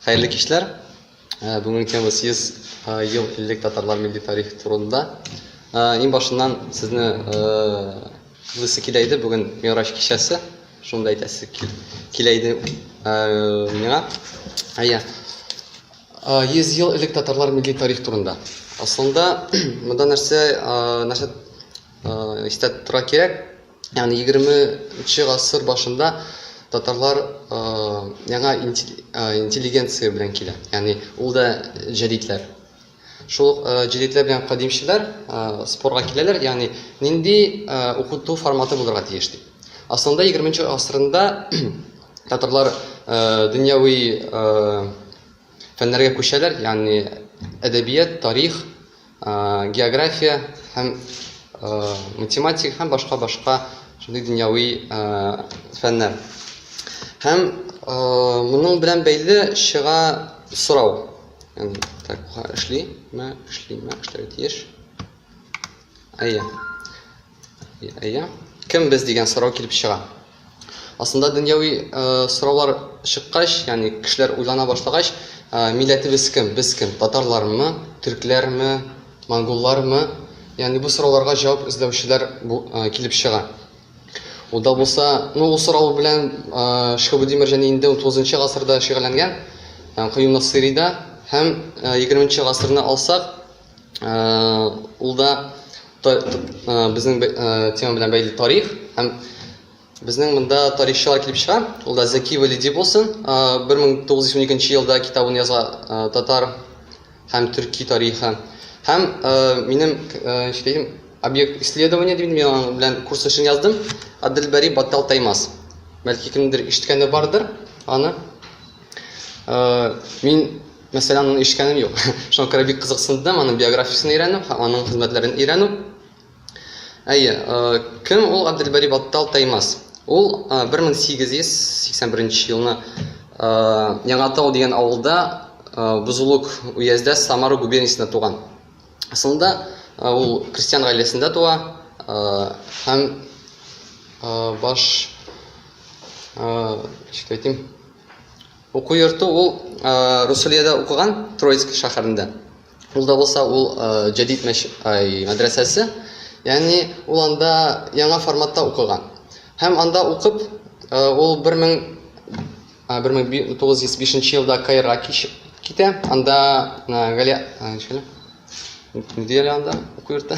Хәерле кичләр. Э, бүгенге тема 100 э, ел элек татарлар милли тарихы турында. Э, иң башыннан сезне кызысы килә иде, бүген Мираж кичәсе. Шунда әйтәсе килә иде миңа. Әйе. 100 ел элек татарлар милли тарих турында. Аслында монда нәрсә нәрсә истә тора кирәк? Ягъни 20 нче гасыр башында татарлар яңа интеллигенция белән килә. Ягъни ул да җәдидләр. Шул ук җәдидләр белән кадимчеләр спорга киләләр, ягъни нинди укыту форматы булырга тиеш дип. Асылында 20 нче гасырында татарлар дөньяви фәннәргә күчәләр, ягъни әдәбият, тарих, география һәм математика һәм башка башка шундый дөньяви фәннәр һәм моның белән бәйле чыга сорау так эшлиме эшлиме эшләү тиеш әйе Әйе. Кем без дигән сорау килеп чыга. Асында дөньяви э, сораулар чыккач, яни кешеләр уйлана башлагач, э, милләтебез кем, без кем, татарлармы, төркләрме, монголлармы, яни бу сорауларга җавап эзләүчеләр э, килеп чыга. Ул да булса, ну ул сорау белән э, Шкабудимир җәни инде 19 нчы гасырда шөгыльләнгән, э, Каюм Насырида һәм 20 нчы гасырны алсак, Ул да безнең тема белән бәйле тарих һәм безнең монда тарихчылар килеп чыга. Ул да Зәки Вәлиди булсын. 1912 елда китабын яза татар һәм төрки тарихы. Һәм минем эшләгән объект исследования дип мин аның белән курс эшен яздым. Адельбари Баттал Таймас. Бәлки кемдер ишеткәне бардыр аны. Мин Мәсәлән, аны ишкәнем юк. Шуңа күрә бик кызыксындым, аның биографиясен өйрәнү һәм аның хезмәтләрен өйрәнү. Әйе, кем ул Абделбари Баттал Таймас? Ул 1881 елны Яңатау дигән авылда Бузулук уездә Самара губерниясендә туган. Асылында ул крестьян гаиләсендә туа һәм баш, ничек әйтим, Уку йорты ул Русулиядә укыган Троицк шәһәрендә. Ул да булса ул җәдит мәч, ай, мәдрәсәсе. Ягъни ул анда яңа форматта укыган. Һәм анда укып, ул 1905 нче елда Каирга кичеп китә. Анда Галия, ай, ничек әле? Ни диелә анда уку йортта?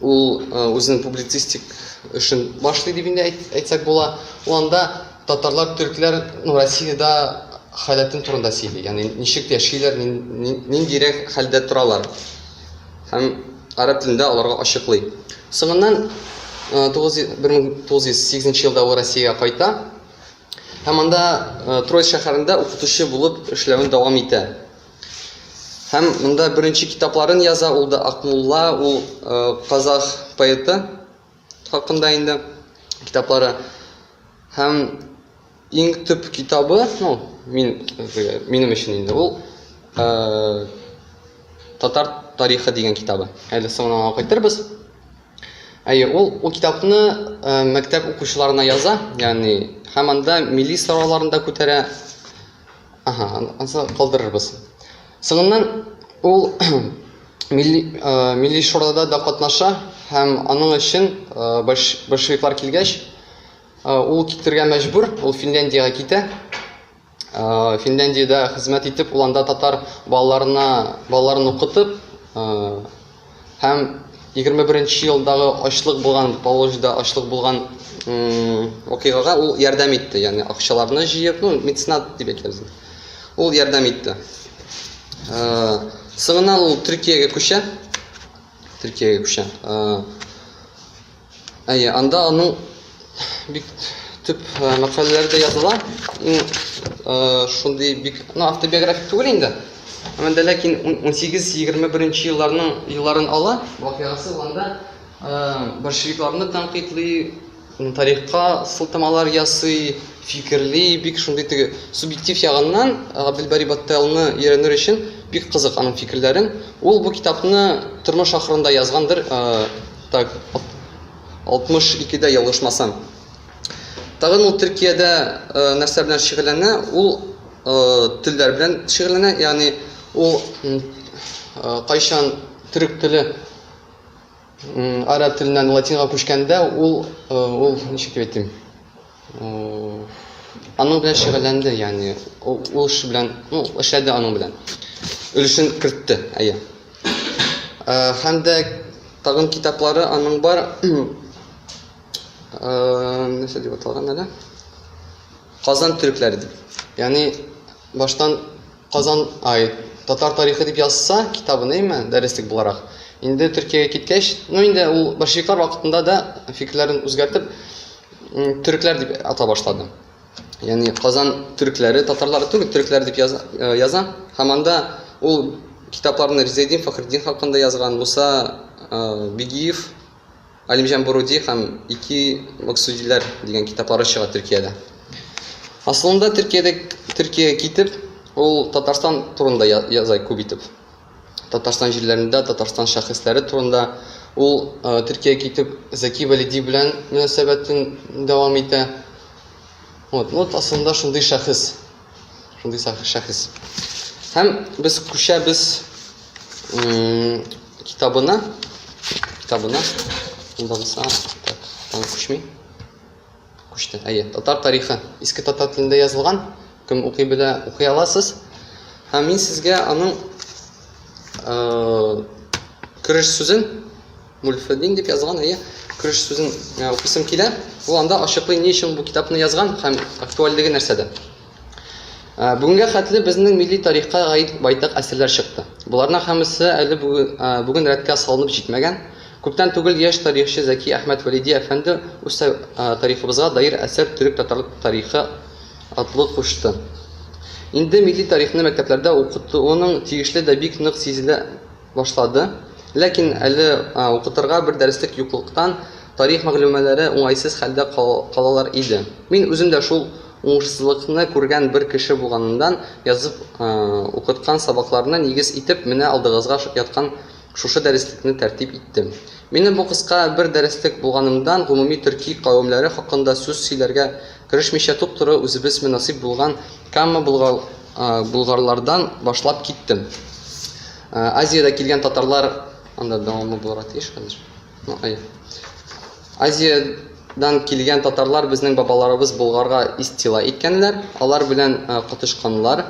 Ул үзенең публицистик эшен башлый дип инде әйтсәк була. Ул анда татарлар, төркләр ну, Россиядә халәтен турында сөйли. Ягъни ничек яшиләр, ниндирәк хәлдә торалар. Һәм гарәп телендә аларга ачыклый. Соңыннан 1908 елда ул Россиягә кайта. Һәм анда Троиц шәһәрендә укытучы булып эшләвен дәвам итә. Һәм монда беренче китапларын яза, ул да Акмулла, ул казах поэты хакында инде китаплары. Һәм иң төп китабы, ну, мин минем өчен инде ул татар тарихы дигән китабы. Әле соңына кайтырбыз. Әйе, ул ул китапны мәктәп укучыларына яза, ягъни һәм анда милли сорауларны да күтәрә, Ага, ансы калдырырбыз. Соңыннан ул милли, э, милли шурада да катнаша һәм аның өчен э, большевиклар килгәч, э, ул китергә мәҗбүр, ул Финляндиягә китә. Э, Финляндиядә хезмәт итеп, ул анда татар балаларына, балаларын укытып, э, Һәм 21 нче елдагы ачлык булган, Поволжьеда ачлык булган вакыйгага ул ярдәм итте. Ягъни акчаларны җыеп, ну, меценат дип әйтәбез. Ул ярдәм итте. Соңыннан ул Төркиягә күчә. Төркиягә күчә. Әйе, анда аның бик төп э, мәкаләләре дә языла. Иң э, шундый бик, ну, автобиографик түгел инде. Әмма дә ләкин 18-21 елларның елларын ала, вакыйгасы анда э, большевикларны тәнкыйтьли, тарихка сылтамалар ясый, фикерли, бик шундый теге субъектив ягыннан Габделбари Батталны өйрәнер өчен бик кызык аның фикерләрен. Ул бу китапны тормыш ахырында язгандыр, Так, 62 дә ялгышмасам. Тагын ул Төркиядә э, нәрсә белән шөгыльләнә? Ул э, телләр белән шөгыльләнә, ягъни ул э, кайчан төрек теле араб теленнән латинга күчкәндә, ул ул ничек дип әйтим? Аның белән шөгыльләнде, ягъни ул эш белән, ну, эшләде аның белән. Өлешен кертте, әйе. Һәм дә тагын китаплары аның бар. Нәрсә дип аталган әле? Казан төрекләре дип. Ягъни баштан Казан, ай, татар тарихы дип язса китабын, әйме, дәреслек буларак. Инде Төркиягә киткәч, ну инде ул большевиклар вакытында да фикерләрен үзгәртеп, Төрекләр дип ата башлады. Ягъни Казан төрекләре, татарлары түгел, төрекләр дип яза, э, яза. Һәм анда ул китапларны Ризедин Фахреддин хакында язган, Муса э, Бигиев, Алимҗан Буруди һәм ике Максудиләр дигән китаплары чыга Төркиядә. Асылында Төркиядә Төркия китеп, ул Татарстан турында яза күп итеп. Татарстан җирләрендә Татарстан шәхесләре турында. Ул Төркиягә китеп Заки Валиди белән мөнәсәбәтен дәвам итә. Вот, вот асылында шундый шәхес. Шундый шәхес. Һәм без күчәбез китабына. Китабына. Монда булса, так, там күчми. Күчтән. Әйе, татар тарихы иске татар телендә язылган. Кем укый белә, укый аласыз. Һәм мин сезгә аның кереш сүзен Мульфедин дип язган, әйе, кереш сүзен укысым килә. Ул анда ачыклый ни өчен бу китапны язган һәм актуальлеге нәрсәдә. Ә, бүгенгә хәтле безнең милли тарихка гаит байтак әсәрләр чыкты. Боларның һәммәсе әле бүген рәткә салынып җитмәгән. Күптән түгел яшь тарихчы Зәки Әхмәт Вәлиди әфәнде үз тарихыбызга даир әсәр Төрек-татар тарихы атлы кушты. Инде милли тарихны мәктәпләрдә укытуының тиешле дә бик нык сизелә башлады. Ләкин әле укытырга бер дәреслек юклыктан, тарих мәгълүмаләре уңайсыз хәлдә калалар иде. Мин үзем дә шул Уңышсызлыкны күргән бер кеше булганымдан, язып укыткан сабакларны нигез итеп, менә алдыгызга яткан шушы дәреслекне тәртип иттем. Минем бу кыска бер дәреслек булганымдан, гомуми төрки кавемләре хакында сүз сөйләргә керешмичә туп-туры үзебезме насыйп булган Камма болгарлардан башлап киттем. Азиядә килгән татарлар, анда дәвамы булырга тиеш хәзер. Азиядән килгән татарлар безнең бабаларыбыз Болгарга истила иткәннәр, алар белән котышканнар,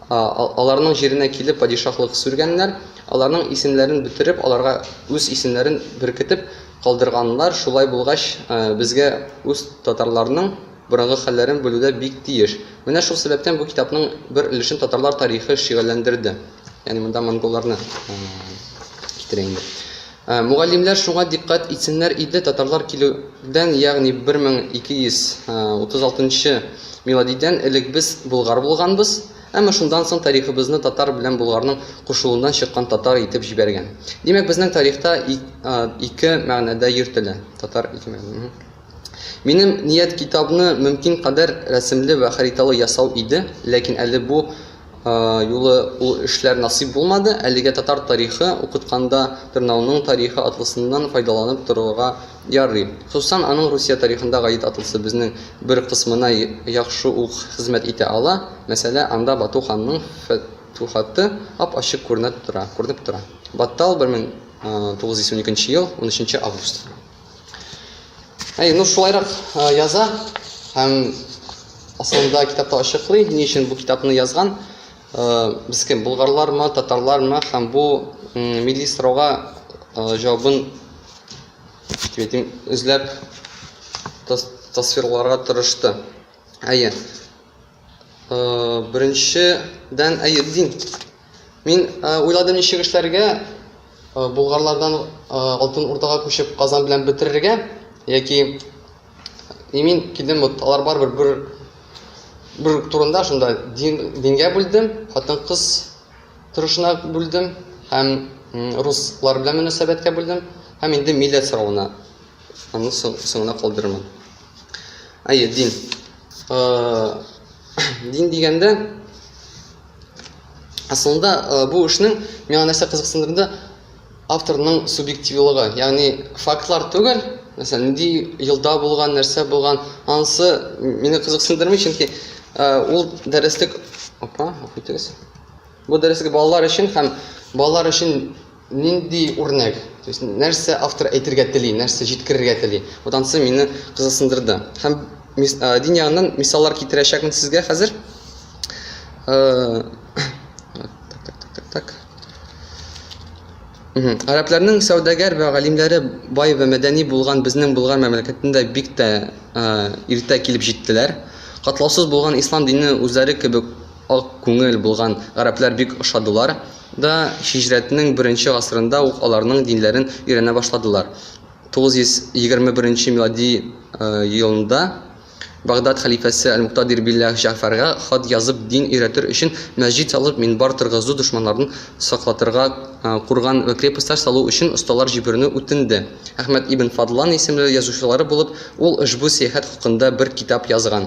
аларның җиренә килеп падишаһлык сүргәннәр, аларның исемнәрен бетереп, аларга үз исемнәрен беркетеп калдырганнар, шулай булгач, безгә үз татарларның борынгы хәлләрен белүдә бик тиеш. Менә шул сәбәптән бу китапның бер өлешен татарлар тарихы шигальләндерде. Ягъни монда монголларны китерә инде. Ә мугаллимнәр шуңа дикъкать итсеннәр иде, татарлар килүдән, ягъни 1236 нчы миладидән элек без болгар булганбыз, әмма шундан соң тарихыбызны татар белән болгарның кушылуыннан чыккан татар итеп җибәргән. Димәк, безнең тарихта и ике мәгънәдә йөртелә. Татар ике мәгънә, угу. Минем ният китабны мөмкин кадәр рәсемле вә хариталы ясау иде, ләкин әле бу Юлы ул эшләр насыйп булмады, әлегә татар тарихы укытканда Тырнауның тарихы атлысыннан файдаланып торырга ярый. Хосусан аның Русия тарихында гаит атлысы безнең бер кысмына яхшы ук хезмәт итә ала, мәсәлә, анда Бату ханның фәтүхаты ап-ачык күренә тора, күренеп тора. Баттал, 1922 ел, унөченче август. Әй, ну шулайрак яза һәм асылында китапта ачыклый, ни өчен бу китапны язган. Без кем, булгарлармы, татарлармы һәм бу милли сорауга җавабын дим, эзләп тасвирларга тырышты. Әйе. Беренчедән, әйе, дин. Мин уйладым ничек эшләргә, Болгарлардан Алтын Урдага күчеп Казан белән бетерергә, яки и мин килдем, вот алар барыбер бер бер турында шунда дин, дингә бүлдем, хатын-кыз торышына бүлдем һәм руслар белән мөнәсәбәткә бүлдем һәм инде милләт соравына аны соңына калдырырмын. Әйе, дин. дин дигәндә асылында бу эшнең миңа нәрсә кызыксындырды авторның субъективлыгы ягъни фактлар түгел мәсәлән нинди елда булган нәрсә булган анысы мине кызыксындырмый чөнки ул дәреслек апа гафу итегез бу дәреслек балалар өчен һәм балалар өчен Нинди үрнәк, то есть нәрсә автор әйтергә тели, нәрсә җиткерергә тели. Вот ансы мине кызыксындырды. Һәм дин ягыннан мисаллар китерәчәкмен сезгә хәзер. Гарәпләрнең сәүдәгәр вә галимләре бай вә мәдәни булган безнең Болгар мәмләкәтендә бик тә иртә килеп җиттеләр. Катлаусыз булган ислам дине үзләре кебек Ак күңел булган гарәпләр бик ошадылар да, һиҗрәтнең беренче гасырында ук аларның динләрен өйрәнә башладылар. 921 милади елында Багдад хәлифәсе әл-Муктадир билләһ Җәгъфәргә хат язып дин өйрәтер өчен мәсҗид салып, минбар торгызу, дошманнардан саклатырга курган вә крепостьләр салу өчен осталар җибәрүне үтенде. Әхмәд ибн Фадлан исемле язучылары булып, ул ошбу сәяхәт хакында бер китап язган.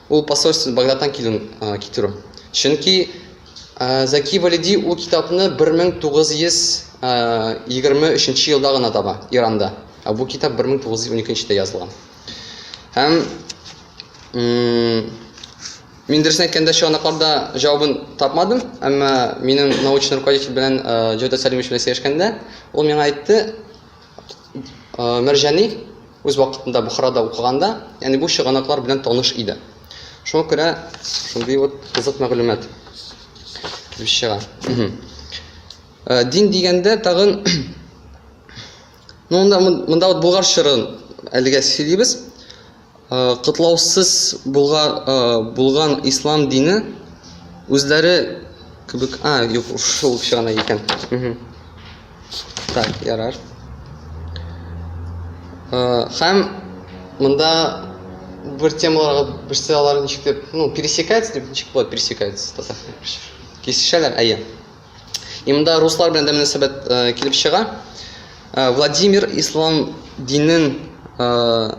Ул посольство Багдадтан килүен китерү. Чөнки Зәки Валиди ул китапны 1923 нче елда гына таба, Иранда. Ә бу китап 1912 нчедә язылган. Һәм мин дөресен әйткәндә чыганакларда җавабын тапмадым, әмма минем научный руководитель белән Җәүдәт Сәлимович белән сөйләшкәндә, ул миңа әйтте, Мәрҗани үз вакытында Бохарада укыганда, ягъни бу чыганаклар белән таныш иде. Шуңа күрә шундый вот кызык мәгълүмат килеп чыга. Дин дигәндә тагын Ну, монда, монда вот Булгар чорын әлегә сөйлибез. котлаусыз булган ислам дине үзләре кебек... А, юк, шул кеше гына икән. Так, ярар. Һәм монда бер темаларга берсе алар ничек дип, ну, пересекается дип ничек була пересекается татарча? Кисешәләр, әйе. И монда руслар белән дә мөнәсәбәт э, килеп чыга. Э, Владимир ислам динен э,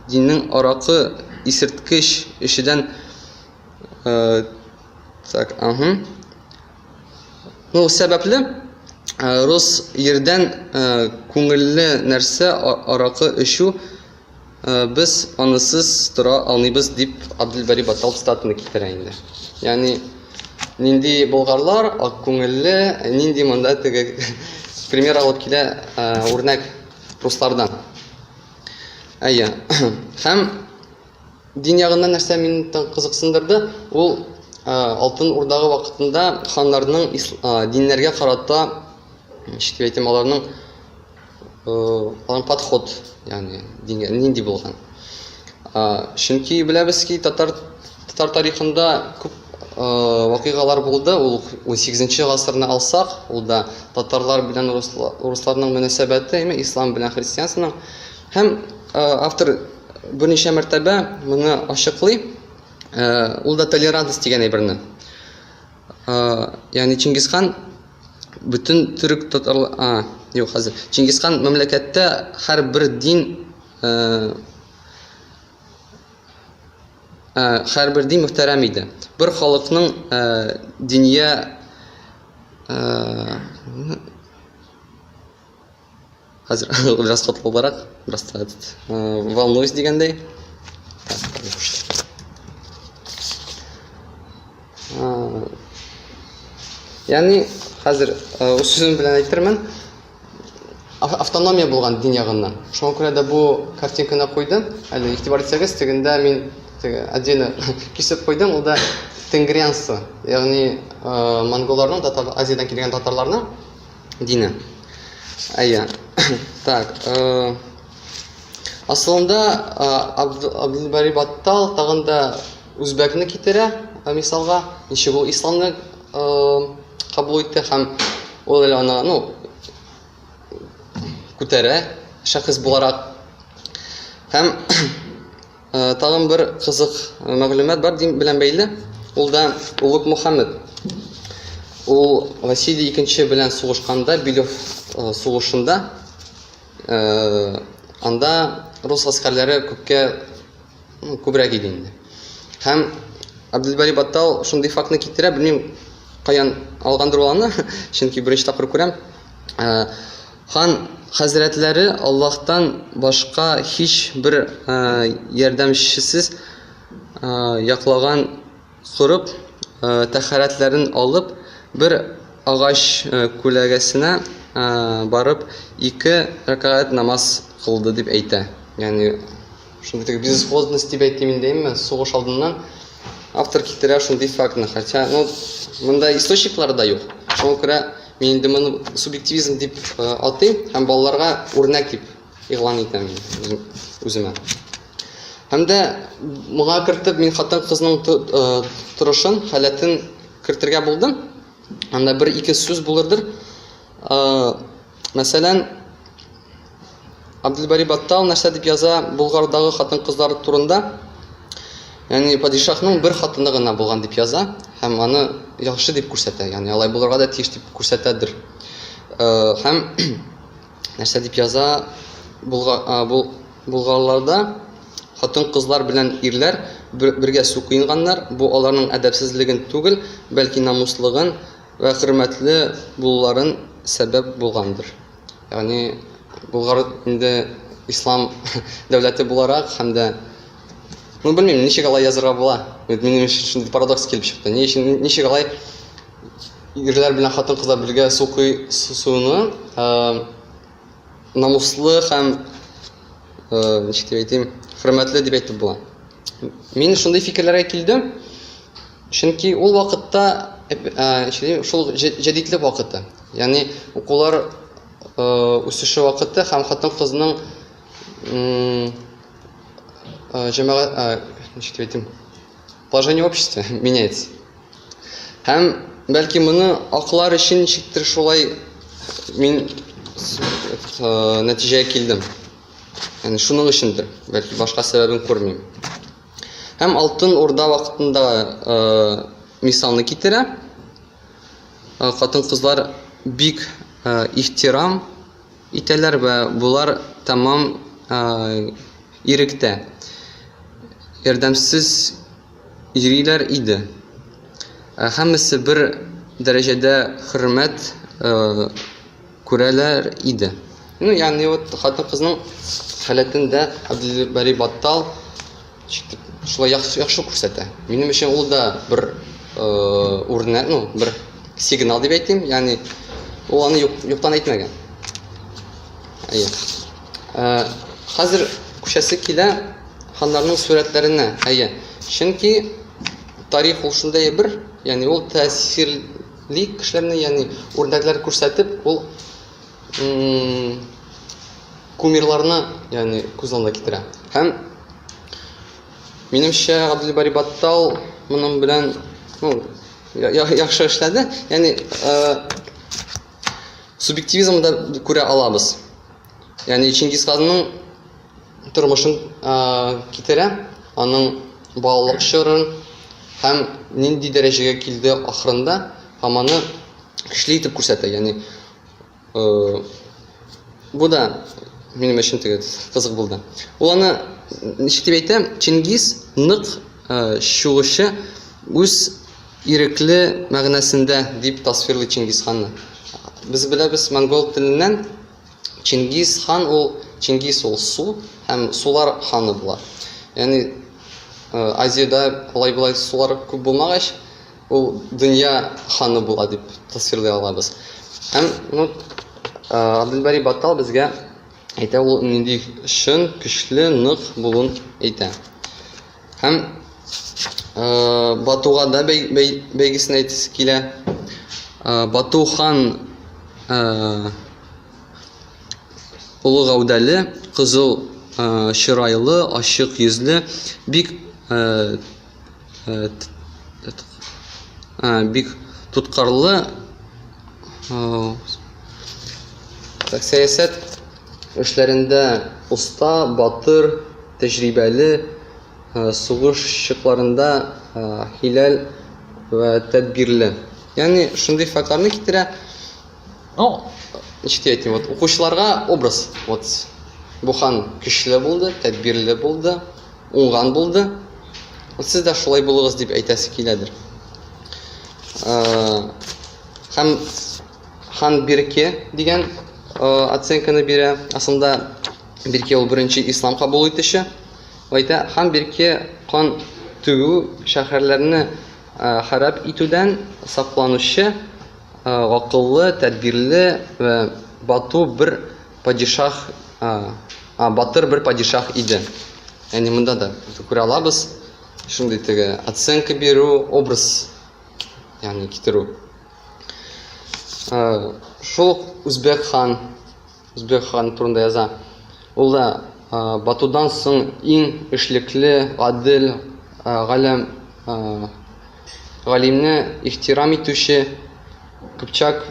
диннең аракы исерткеч эшедән э, так, ага. Ну, сәбәпле э, рус ердән э, күңелле нәрсә а- аракы эчү Без анысыз тора алмыйбыз, дип Абделбари Батал цитатаны китерә инде. Ягъни нинди болгарлар ак күңелле, нинди монда теге пример алып килә үрнәк руслардан. Әйе. Һәм дин ягыннан нәрсә мине кызыксындырды, ул Алтын Урдагы вакытында ханнарның диннәргә карата, ничек дип әйтим, аларның план подход ягъни дингә нинди булган чөнки беләбез ки татар татар тарихында күп вакыйгалар булды ул ун сигезенче гасырны алсак ул да татарлар белән урысларның мөнәсәбәте яме ислам белән христианствоның һәм автор берничә мәртәбә моны ачыклый ул да толерантность дигән әйберне Ягъни Чингисхан бөтен төрек татар а юк хәзер. Чингисхан мәмләкәттә һәрбер дин һәрбер дин мөхтәрәм иде. Бер халыкның диния Хәзер бераз тотлыбрак, бераз та этот, волнуюсь дигәндәй. Яни хәзер үз сүзем белән әйтермен, автономия булган дин ягыннан. Шуңа күрә дә бу картинканы куйдым. Әле игътибар итсәгез, тегендә мин теге отдельно кисеп куйдым, ул да тенгрианство, ягъни монголларның, татар Азиядән килгән татарларның Дина. Әйе. Так, э, асылында Абдулбари Баттал тагын да үзбәкне китерә, э, мисалга, ничек ул исламны э, кабул итте һәм ул әле аны, ну, күтәрә, шәхес буларак. Һәм Тагын бер кызык мәгълүмат бар дин белән бәйле. Ул да Улук Мухаммед. Ул Василий II белән сугышканда Билев сугышында анда рус гаскәрләре күпкә күбрәк иде инде. Һәм Абдулбари Баттал шундый фактны китерә, белмим, каян алгандыр ул аны, чөнки беренче тапкыр күрәм. Хан хәзрәтләре Аллаһтан башка һичбер ярдәмчесез яклаган корып тәһарәтләрен алып, бер агач күләгәсенә барып, ике рәкәгать намаз кылды дип әйтә. Ягъни. Шундый теге безысходность дип әйтим инде, әмма сугыш алдыннан автор китерә шундый фактны, хотя, ну, монда источниклар да юк. Шуңа күрә мин инде моны субъективизм дип э, атыйм һәм балаларга үрнәк дип игълан итәм үземә. Һәм дә моңа кертеп мин хатын-кызның э, торышын, халәтен кертергә булдым. Анда бер ике сүз булырдыр. Э, мәсәлән, Абдельбари Баттал нәрсә дип яза Болгардагы хатын-кызлар турында? Яни падишахның бер хатыны гына булган дип яза һәм аны яхшы дип күрсәтә. Яни алай булырга да тиеш дип күрсәтәдер. Э, һәм нәрсә дип яза Болгарларда хатын-кызлар белән ирләр бергә су куенганнар. Бу аларның әдәпсезлеген түгел, бәлки намуслыгын ва хөрмәтле булуларын сәбәп булгандыр. Ягъни Болгар инде ислам дәүләте буларак һәм дә Ну, белмим, ничек алай язырга була? Бит минем өчен шундый парадокс килеп чыкты. Ни өчен ничек алай ирләр белән хатын-кызлар бергә су куй суны намуслы һәм ничек дип әйтим, хөрмәтле дип әйтеп була? Мин шундый фикерләргә килдем, чөнки ул вакытта э, шул җәдидлек вакыты. Ягъни укулар э, үсеше вакыты һәм хатын-кызның э, җәмәгать ничек дип әйтим? Положение общества меняется. Һәм бәлки моны аклар өчен ничектер шулай мин нәтиҗәгә килдем. Яни шуның өчендер, бәлки башка сәбәбен күрмим. Һәм алтын урда вакытында э, мисалны китерә. Э, Хатын-кызлар бик э, ихтирам итәләр вә булар тәмам э, иректә. Ярдәмсез йөриләр иде. Һәммәсе бер дәрәҗәдә хөрмәт Күрәләр иде. Ну, ягъни вот хатын-кызның халәтен дә Абделбари Баттал шитеп шулай яхшы яхшы күрсәтә. Минем өчен ул да бер үрнәк, ну, бер сигнал дип әйтим, ягъни ул аны юк, юктан әйтмәгән. Әйе. Хәзер күчәсе килә ханнарның сурәтләренә. Әйе. Чөнки тарих ул шундый бер, ягъни ул тәэсир Бөек кешеләрне, ягъни үрнәкләр күрсәтеп, ул кумирларны, ягъни күз алдына китерә. Һәм минемчә Габделбари Баттал моның белән, ну, яхшы эшләде. Ягъни субъективизмда күрә алабыз. Ягъни Чингисханның тормышын китерә, аның балалык чорын һәм нинди дәрәҗәгә килде ахырында һәм аны көчле итеп күрсәтә. Ягъни бу да минем өчен теге кызык булды. Ул аны ничек дип әйтә? Чингиз нык чугучы үз ирекле мәгънәсендә дип тасвирлый Чингизханны. Без беләбез монгол теленнән Чингиз хан ул Чингиз ул су һәм сулар ханы була. Ягъни Азиядә алай-болай сулар күп булмагач, ул дөнья ханы була дип тасвирлый алабыз. Һәм ну Абделбари Баттал безгә әйтә ул нинди чын, көчле, нык булуын әйтә. Һәм э, Батуга да бәй, бәй, бәйгесен әйтәсе килә. Э, Бату хан э, олы гәүдәле, кызыл э, чырайлы, ачык йөзле, бик э, э, э, бик тоткарлы э, так, сәясәт Эшләрендә оста, батыр, тәҗрибәле, сугыш чыкларында хиләл вә тәдбирле. Ягъни шундый фактларны китерә. Ну, ничек тә әйтим, вот укучыларга образ, вот бу хан көчле булды, тәдбирле булды, уңган булды. Вот сез дә шулай булыгыз дип әйтәсе киләдер. Һәм Хан Бирке дигән оценканы бирә. Асында Бирке ул беренче ислам кабул итүче. Әйтә, Хан Бирке кан түгү, шәһәрләрне харап итүдән сакланучы акыллы, тәдбирле вә бату бер падишаһ, батыр бер падишаһ иде. Ягъни монда да күрә алабыз шундый теге оценка бирү, образ ягъни китерү. Шул ук Үзбәк хан, Үзбәк хан турында яза. Ул да Батудан соң иң эшлекле, гадел, галәм, галимне ихтирам итүче, Кыпчак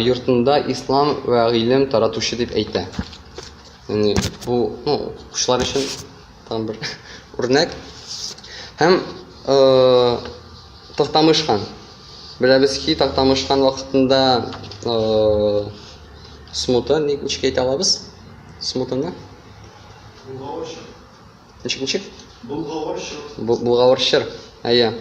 йортында ислам вә гыйлем таратучы дип әйтә. Яни бу, ну, укучылар өчен. тагын бер үрнәк. Һәм Тактамышхан. Беләбез ки, Тактамышхан вакытында смута ник ничек әйтә алабыз? Смутаны? Булгавырчыр. Ничек ничек? Булгавырчыр. Булгавырчыр. Әйе.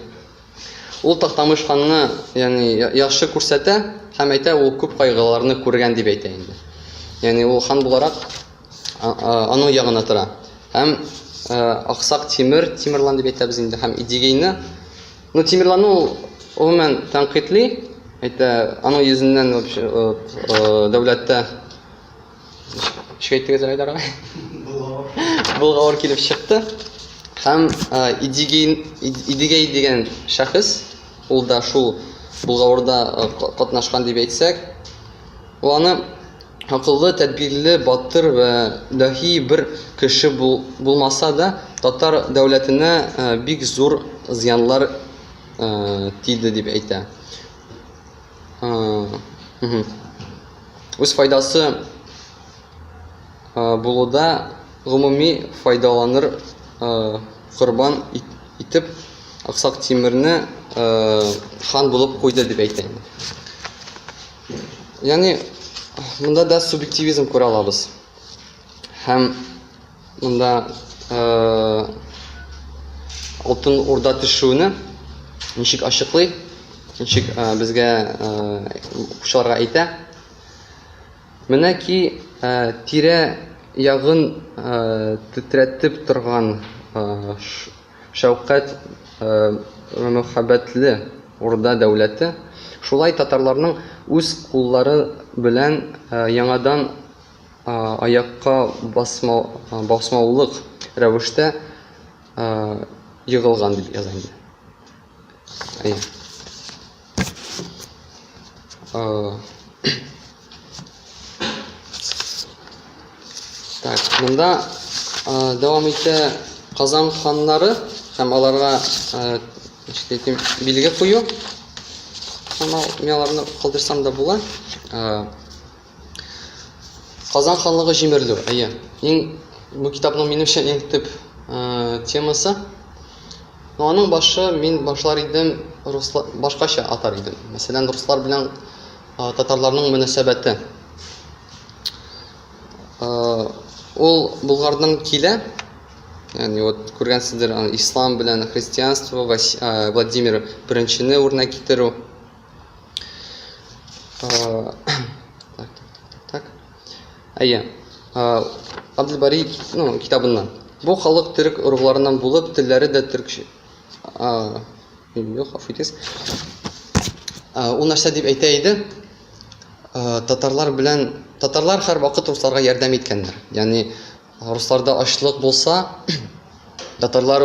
Ул Тактамыш ханны, ягъни яхшы күрсәтә һәм әйтә, ул күп кайгыларны күргән дип әйтә инде. Ягъни ул хан буларак аның ягына тора. Һәм Аксак Тимер, Тимерлан дип әйтәбез инде, һәм Идигейны. Ну, Тимерланны ул гомумән тәнкыйтьли, әйтә, аның йөзеннән вообще дәүләттә шикәйтегез Айдар агай. Булгавыр килеп чыкты. Һәм Идигей Идигей дигән шәхес, ул да шул булгавырда катнашкан дип әйтсәк, ул аны акыллы, тәдбирле, батыр вә даһи бер кеше булмаса да, татар дәүләтенә бик зур зыяннар тиде дип әйтә. Үз файдасы булуда гомуми файдаланыр корбан итеп Аксак Тимерне хан булып куйды дип әйтә. Яни монда да субъективизм күрә алабыз. Һәм монда э Алтын Урда төшүне ничек ачыклый, ничек э, безгә укучыларга э, әйтә. Менә ки э, тирә ягын тетрәтеп торган Шәүкәт мөхәббәтле Урда дәүләте шулай татарларның үз куллары белән яңадан аякка басмаулык рәвештә егылган, дип яза инде. Әйе. Е, так, монда е, дәвам итә Казан ханнары һәм аларга е, әйтим, билге кую. Һәм мин аларны калдырсам да була. Казан ханлыгы җимерелү. Әйе. Иң бу китапның минемчә иң төп э, темасы. Но аның башы мин башлар идем руслар башкача атар идем. Мәсәлән, руслар белән э, татарларның мөнәсәбәте. Э, ул Булгардан килә. Ягъни вот күргәнсездер, ислам белән христианство, э, Владимир беренчене үрнәк китерү. А, так, так, так, Әйе. А, Абдельбари ну, китабыннан. Бу халык төрек оругларыннан булып, телләре дә төркче. А, юк, хаф итегез. А, ул нәрсә дип әйтә иде? А, татарлар белән татарлар һәр вакыт русларга ярдәм иткәннәр. Ягъни Русларда ачлык булса, татарлар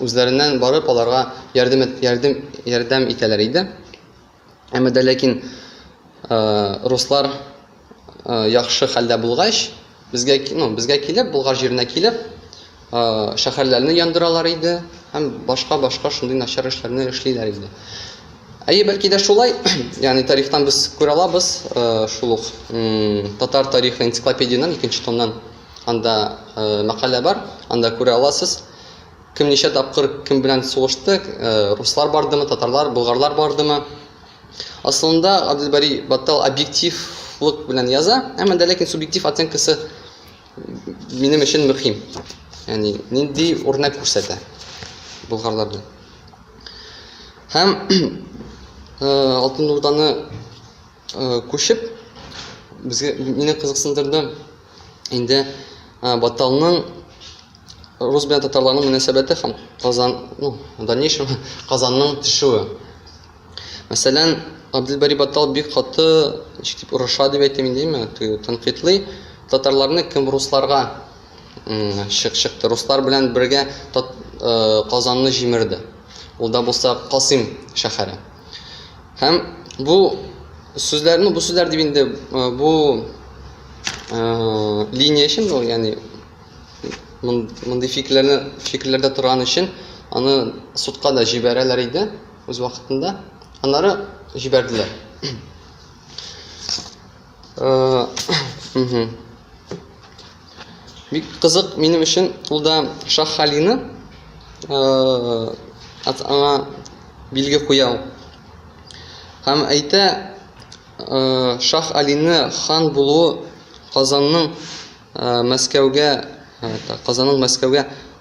үзләреннән барып аларга ярдәм ярдәм ярдәм итәләр иде. Әмма дә ләкин руслар яхшы хәлдә булгач, безгә, ну, безгә килеп, Болгар җиренә килеп, шәһәрләрне яндыралар иде һәм башка-башка шундый начар эшләрне эшлиләр иде. Әйе, бәлки дә шулай. Ягъни тарихтан без күрә алабыз, э, шул ук татар тарихы энциклопедиянең икенче томнан анда э, мәкалә бар, анда күрә аласыз. Кем ничә тапкыр кем белән сугышты, э, руслар бардымы, татарлар, болгарлар бардымы. Асылында Абделбари Баттал объективлык белән яза, әмма дә ләкин субъектив оценкасы минем өчен мөһим. Яни нинди үрнәк күрсәтә болгарларда. Һәм Алтын Урданы күчеп безгә мине кызыксындырды инде Баталның рус белән татарларның мөнәсәбәте һәм Казан, ну, дальнейшем Казанның төшүе. Мәсәлән, Абделбари Батал бик каты, ничек дип, орыша дип әйтим инде, әйме, теге тәнкыйтьли, татарларны кем русларга чык чыкты, руслар белән бергә тат, э, Казанны җимерде. Ул да булса Касыйм шәһәре. Һәм бу сүзләрне, бу сүзләр дип инде э, бу э, линия өчен, бу, ягъни мондый фикерләрне фикерләрдә торган өчен аны судка да җибәрәләр иде. үз вакытында. Аннары җибәрделәр. Э, Бик кызык минем өчен ул да Шах Халины э, аңа билге куя ул. Һәм әйтә, э, Шах Алины хан булуы Казанның Мәскәүгә, Казанның Мәскәүгә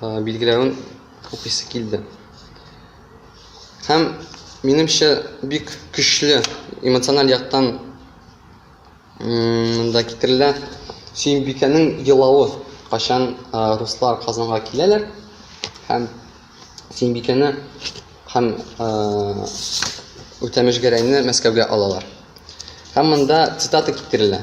билгеләвен укыйсы килде. Һәм минемчә бик көчле эмоциональ яктан да китерелә. Сөембикәнең елавы, качан руслар Казанга киләләр һәм Сөембикәне һәм Үтәмеш Гәрәйне Мәскәүгә алалар. Һәм монда цитата китерелә.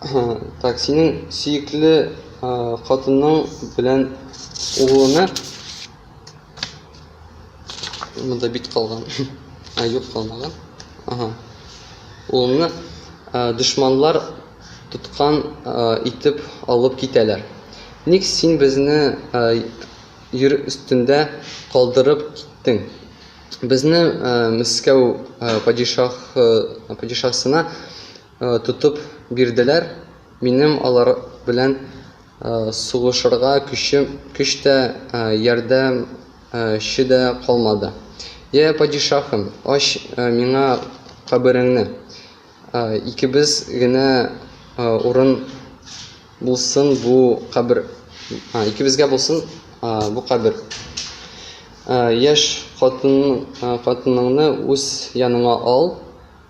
Так, синең сөекле хатының белән углыңны монда бит калган. А, юк калмаган. Ага. Улымны дошманлар тоткан итеп алып китәләр. Ник син безне йөр өстендә калдырып киттең? Безне Мәскәү падишах падишахсына Тотып бирделәр. Минем алар белән сугышырга көчем, көч тә, ярдәм че дә калмады. Йә, падишаһым, ач миңа кабереңне, икебез генә урын булсын бу кабер, икебезгә булсын бу кабер. Яшь хатын, хатыныңны үз яныңа ал,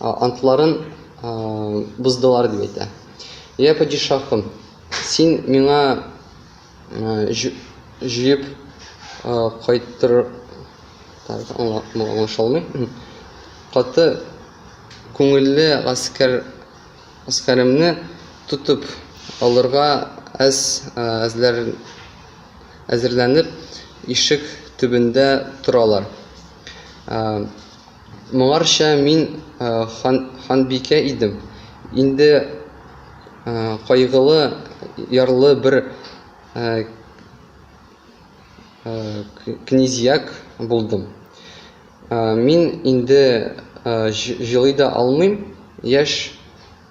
антларын боздылар дип әйтә. Я падишахым, син миңа җыеп кайтыр аңлашылмый. Каты күңелле гаскәр гаскәремне тотып алырга әз әзләр әзерләнеп, ишек төбендә торалар. Моңарчы мин ханбикә идем, инде кайгылы, ярлы бер князьяк булдым. Мин инде җылый да алмыйм, яшь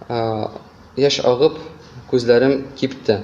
агып күзләрем кипте.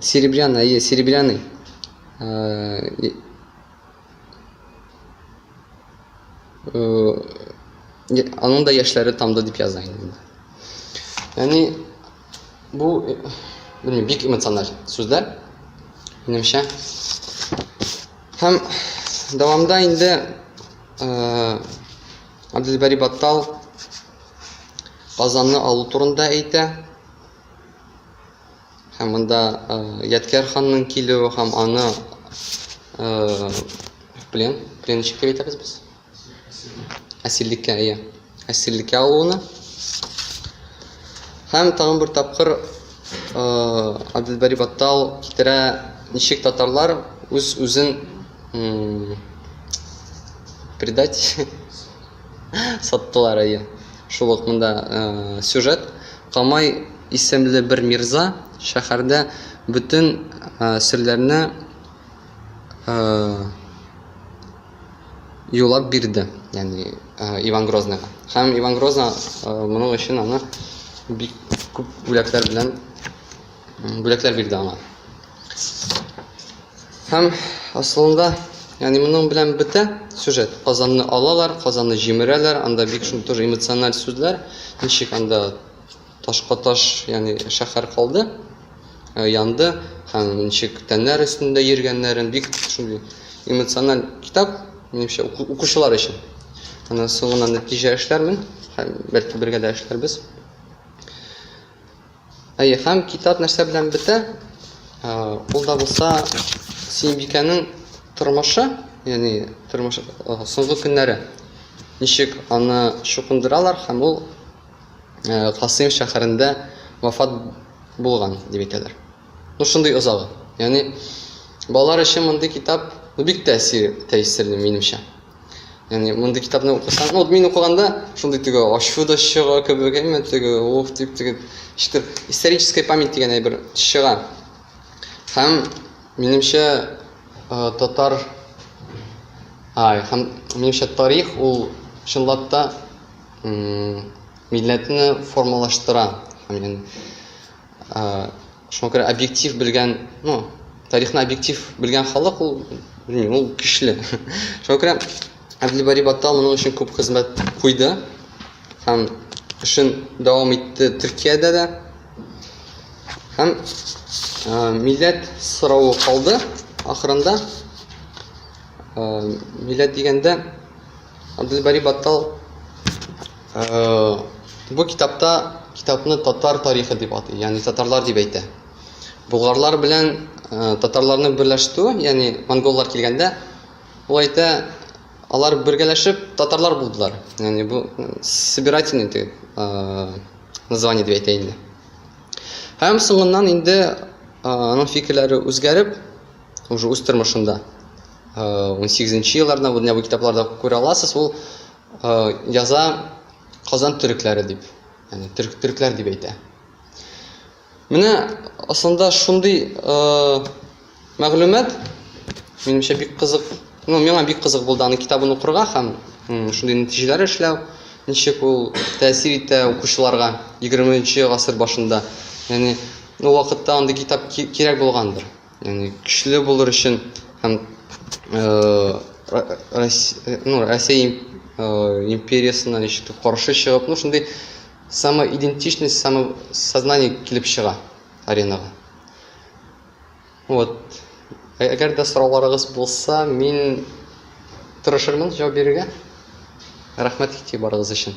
Серебряный, әйе, серебряный. Э, э, аның да яшьләре тамды дип яза инде. Яни бу э, белмим, бик эмоциональ сүзләр. Минемчә. Һәм дәвамда инде э Абдулбари Баттал Казанны алу турында әйтә. Һәм монда э, Ядкәр ханның килүе һәм аны э, плен, пленщикка әйтәбез без. Әсирлеккә, иә. Әсирлеккә алуына. Һәм тагын бер тапкыр э, Абделбари Баттал китерә ничек татарлар үз үзен предать саттылар, әйе. Шул ук монда сюжет. Камай исемле бер мирза шәһәрдә бөтен серләрне юлап бирде, ягъни Иван Грозныйга. Һәм Иван Грозный моның өчен аны бик күп бүләкләр белән бүләкләр бирде аңа. Һәм асылында, яни моның белән бетә сюжет. Казанны алалар, Казанны җимерәләр, анда бик шул тоже эмоциональ сүзләр, ничек анда ташка таш, яни шәһәр калды, э, янды һәм ничек тәннәр өстендә йөргәннәрен бик шундый эмоциональ китап, минемчә укучылар өчен. Аны соңыннан нәтиҗә эшләрмен, һәм бәлки бергә дә эшләрбез. Әйе, һәм китап нәрсә белән бетә? Ул да булса Синбикәнең тормышы, ягъни тормыш соңгы көннәре. Ничек аны чукындыралар һәм ул Касыйм шәһәрендә вафат булган дип әйтәләр. Ну шундый озагы. Ягъни балалар өчен мондый китап бик тәэсир тәэсирле минемчә. яғни мондый китапны укысаң вот мин укыганда шундый теге ачу да чыга кебек әмма теге уф дип теге ишетеп историческая память дигән әйбер чыга һәм минемчә татар ай һәм минемчә тарих ул чынлап та милләтне формалаштыра һәм Шуңа күрә объектив белгән, ну, тарихны объектив белгән халык ул, белмим, ул көчле. Шуңа күрә Әбделбари Баттал моның өчен күп хезмәт куйды һәм эшен дәвам итте Төркиядә дә. Һәм милләт соравы калды ахырында. Милләт дигәндә Әбделбари Баттал Бу китапта китапны татар тарихы дип атый, ягъни татарлар дип әйтә. Болгарлар белән татарларны берләштерү, ягъни монголлар килгәндә, ул әйтә, алар бергәләшеп татарлар булдылар. Ягъни бу собирательный дип название дип әйтә инде. Һәм соңыннан инде аның фикерләре үзгәреп, уже үз тормышында 18 нче елларда бу китапларда күрә аласыз, ул Яза Казан төрекләре дип, яни төрк төрекләр дип әйтә. Менә асында шундый мәгълүмат минемчә бик кызык, ну миңа бик кызык булды аны китабын укырга һәм шундый нәтиҗәләр эшләү, ничек ул тәэсир итә укучыларга 20 нче гасыр башында. Яни ул вакытта андый китап кирәк булгандыр. яғни көчле булыр өчен һәм рәсәй империясына ничектер каршы чыгып ну шундый самоидентичность самосознание килеп чыга аренага вот әгәр дә сорауларыгыз булса мин тырышырмын җавап бирергә рәхмәт игътибарыгыз өчен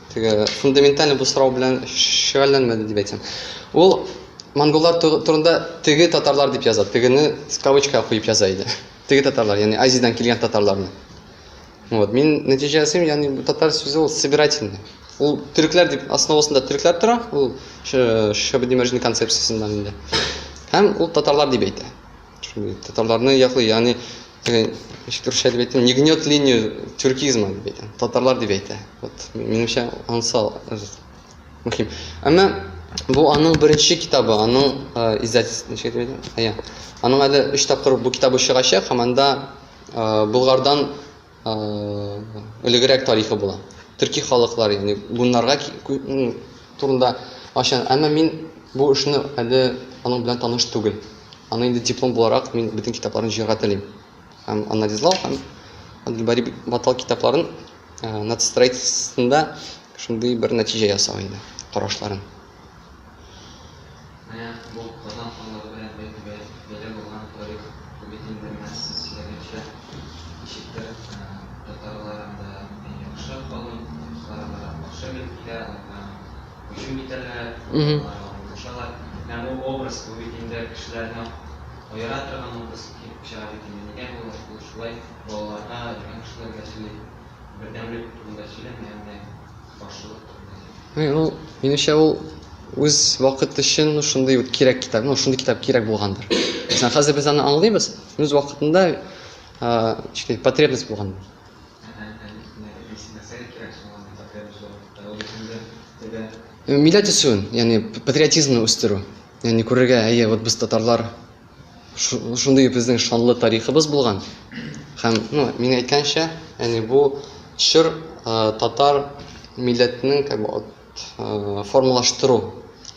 Теге фундаменталь бу сорау белән шөгыльләнмәде дип әйтсәм. Ул монголлар турында теге татарлар дип яза, тегене кавычка куеп яза иде. Теге татарлар, ягъни Азиядән килгән татарларны. Вот, мин нәтиҗә ясыйм, ягъни бу татар сүзе ул собирательный. Ул төрекләр дип основасында төрекләр тора, ул Шабдимәрҗин концепциясендә инде. Һәм ул татарлар дип әйтә. Татарларны яклый, ягъни ничек русча дип әйтсәм, не гнет линию тюркизма дип әйтә. Татарлар дип әйтә. Вот минемчә анса мөһим. Әмма бу аның беренче китабы, аның издательство ничек дип әйтә? Аның әле 3 тапкыр бу китабы чыгачак, һәм анда Болгардан Элегрәк тарихы була. Төрки халыклар, ягъни гуннарга турында ача. Әмма мин бу эшне әле аның белән таныш түгел. Аны инде диплом буларак мин бөтен китапларын җыярга телим. Һәм анализлау һәм Габделбари Батал китапларын нацистроительствосында шундый бер нәтиҗә ясау инде, карашларын. Менә бу Казан ханлыгы белән бәйле бәла булган тарих Күбетин Бермәлсез сөйләгәнчә ничектер татарлар анда миннән яхшы халык, урыслар аларга каршы бел килә, аларга һөҗүм итәләр, аларга борылышалар. Менә бу образ Күбетиндә кешеләрне аера торган образ килеп чыга бит инде. Нигә бу ул шулай балаларга, өлкән кешеләргә сөйли, бердәмлек турында сөйләмәгән дә. Һәм ул, минемчә, ул үз вакыт өчен шундый вот кирәк китап, ну, шундый китап кирәк булгандыр. Мәсәлән, хәзер без аны аңлыйбыз, үз вакытында ә, потребность булган. Милләт үсүен, ягъни патриотизмны үстерү. Ягъни күрергә, әйе, вот без татарлар, шундый безнең шанлы тарихыбыз булган. Һәм, ну, мин әйткәнчә, яни бу чор татар милләтенең как бы э, формалаштыру.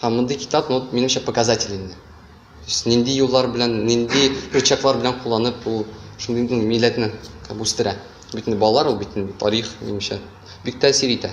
Һәм мондый китап, ну, минемчә показатель инде. То есть нинди юллар белән, нинди рычаглар белән кулланып ул шундый ну, милләтне как бы үстерә. Бит инде балалар ул бит инде тарих, минемчә, бик тәэсир итә.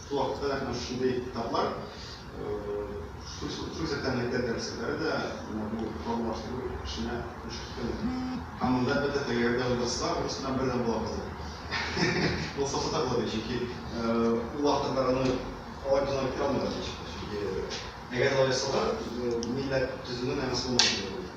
Шул вакытта да менә шушындый китаплар, шул исәптән мәктәп дәресләре дә менә бу формалаштыру эшенә өлеш керткән. Һәм монда, әлбәттә, тәгәр дә уйласа, урысчадан бердәм була кызым. Ул сафсата була бит, чөнки ул вакытта бар аны алай гына үткәрә алмыйлар, чөнки әгәр алай ясалар, милләт төзүнең мәгънәсе булмас иде.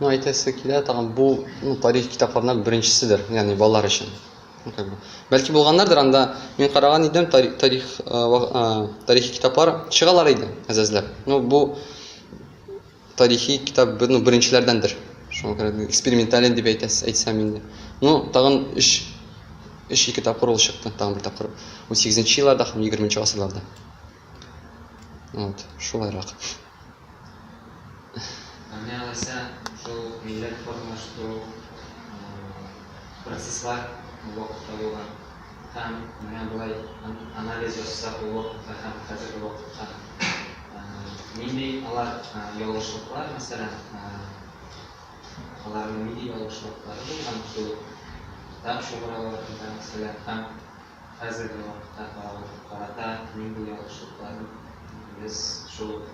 Ну әйтәсе килә тагын бу ну тарих китапларыннан беренчеседер ягъни балалар өчен ну как бы бәлки булганнардыр анда мин караган идем тарих тарих тарихи китаплар чыгалар иде әзәзләп ну бу тарихи китап ну беренчеләрдәндер шуңа күрә экспериментален дип әйтәс әйтсәм инде ну тагын өч өч ике тапкыр ул чыкты тагын бер тапкыр ун сигезенче елларда һәм егерменче гасырларда вот шулайрак Менә Ләйсән шул милләт формалаштыру процесслар ул вакытта булган һәм менә болай анализ ясасак ул вакытта һәм хәзерге вакытка нинди алар ялгышлыклар, мәсәлән, аларның нинди ялгышлыклары булган шул китап чыгаруларында, мәсәлән, һәм хәзерге вакытка каралып карата нинди ялгышлыкларын без шул ук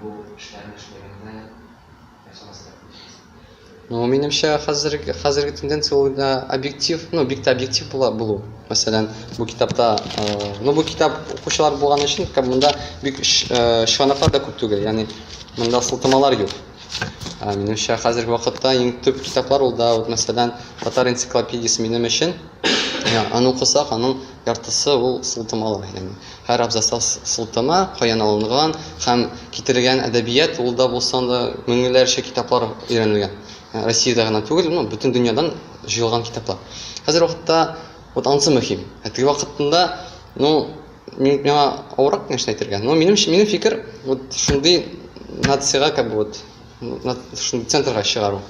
бу эшләрне эшләгәндә ясамаска тиешбез? Ну, минемчә, хәзерге, хәзерге тенденция ул да объектив, ну, бик тә объектив була булу. Мәсәлән, бу китапта, э, ну, бу китап укучылар булган өчен, как монда бик э, чыганаклар да күп түгел, ягъни монда сылтамалар юк. Ә, минемчә, хәзерге вакытта иң төп китаплар ул да, вот, мәсәлән, татар энциклопедиясе минем өчен, Аны укысак, аның яртысы ул сылтамалар, ягъни һәр абзацта сылтама каян алынган һәм китерелгән әдәбият ул да булса да меңләрчә китаплар өйрәнелгән. Ә, Россиядә генә түгел, ну, бөтен дөньядан җыелган китаплар. Хәзер вакытта вот ансы мөһим. Ә теге вакытында, ну, мин миңа авырак нәрсә әйтергә. Но минем минем фикер, вот шундый нациягә как бы вот, ну, на шундый центрга чыгару.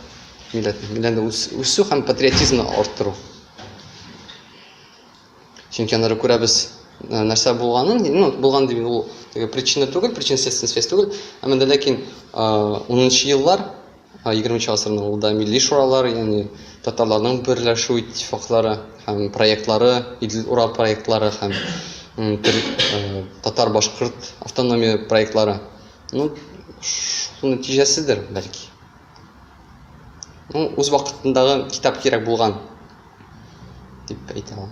милләтне үсү һәм патриотизмны арттыру. Чөнки аннары күрәбез э, нәрсә булганын, ну, булган дип ул теге причина түгел, причинно-следственная связь түгел, әмма дә ләкин 10-нчы э, еллар 20 гасырның ул да милли шуралар, ягъни татарларның берләшү иттифаклары һәм проектлары, Идел Ура проектлары һәм э, татар башкорт автономия проектлары. Ну, шуның нәтиҗәседер, бәлки. Ну, үз вакытындагы китап кирәк булган дип әйтә ул.